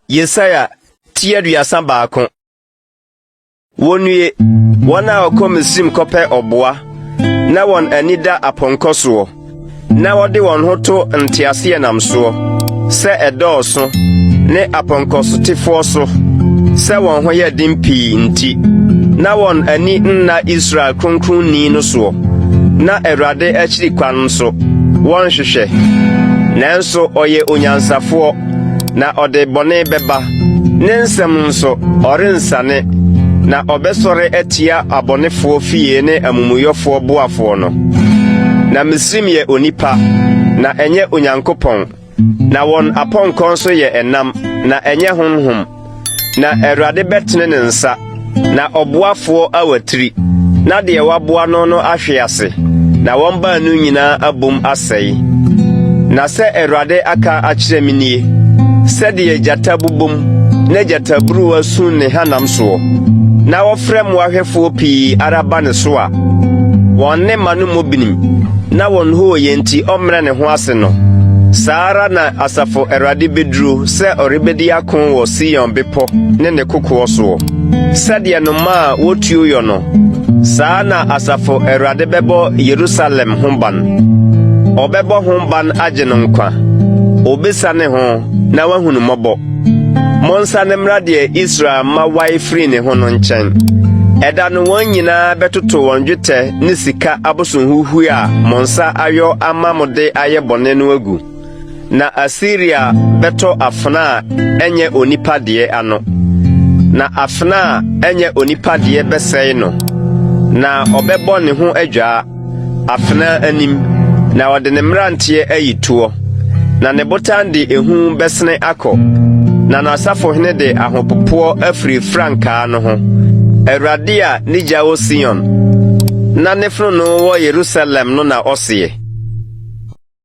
Yesaia ti aduasa baako. Wonnue, wɔn a wɔkɔ Misrim kɔpɛ ɔboa, na wɔn ani da apɔnkɔ soɔ, na wɔde wɔn ho to nteaseɛnam soɔ. sɛ ɛdɔɔso, ne apɔnkɔsotefoɔ so, sɛ wɔn ho yɛ den pii nti, na wɔn ani nna Israel kronkronni no soɔ, na Awurade akyiri kwan nso, wɔnhwehwɛ. Nanso ɔyɛ onyansafoɔ, na ɔde bɔne bɛba. Ne nsɛm nso, ɔrensane, na ɔbɛsɔre atia abɔnefoɔ fie ne amumuyɔfoɔ boafoɔ no. Na Misraim yɛ onipa, na ɛnyɛ Onyankopɔn, na wɔn apɔnkɔ nso yɛ ɛnam, na ɛnyɛ honhom. Na Awurade bɛtene ne nsa Na ɔboafoɔ awatiri, na deɛ waboa no no ahwe ase, na wɔn baanu nyinaa abom asɛe. Na sɛ Awurade aka akyerɛ me nie, sɛdeɛ gyata bobom na gyataburuwa su ne hanam soɔ, na wɔfrɛ mmoahwɛfoɔ pii ara ba ne so a, wɔn ne mma no mmɔ binim, na wɔn hooyɛ nti ɔmmrɛ ne ho ase no, saa ara na asafo Awurade bɛduro sɛ ɔrebɛdi ako wɔ Sion bepɔ ne ne kokoɔ soɔ. Sɛdeɛ nnomaa a wɔtuo yɔ no, saa na Asafo Awurade bɛbɔ Yerusalem ho ban. Ɔbɛbɔ ho ban agye no nkwa. Ɔbɛsiane ho na wahunu mmɔbɔ. Monsane mmra deɛ Israel mma wae firi ne ho no nkyɛn. Ɛda no wɔn nyinaa bɛtoto wɔn dwetɛ ne sika abosonhuhue a mo nsa ayɔ ama mo de ayɛ bɔne no agu. Na Asiria bɛtɔ afena a ɛnyɛ onipa deɛ ano, na afena a ɛnyɛ onipa deɛ bɛsɛe no, na ɔbɛbɔ ne ho adwaa afena anim, na ɔde ne mmeranteɛ ayi toɔ, na ne botan de ehu bɛsene akɔ, na n'asafohene de ahopopoɔ afiri frankaa no ho. Awurade a ne gya wɔ Sion, na ne fononoo wɔ Yerusalem no na ɔseɛ.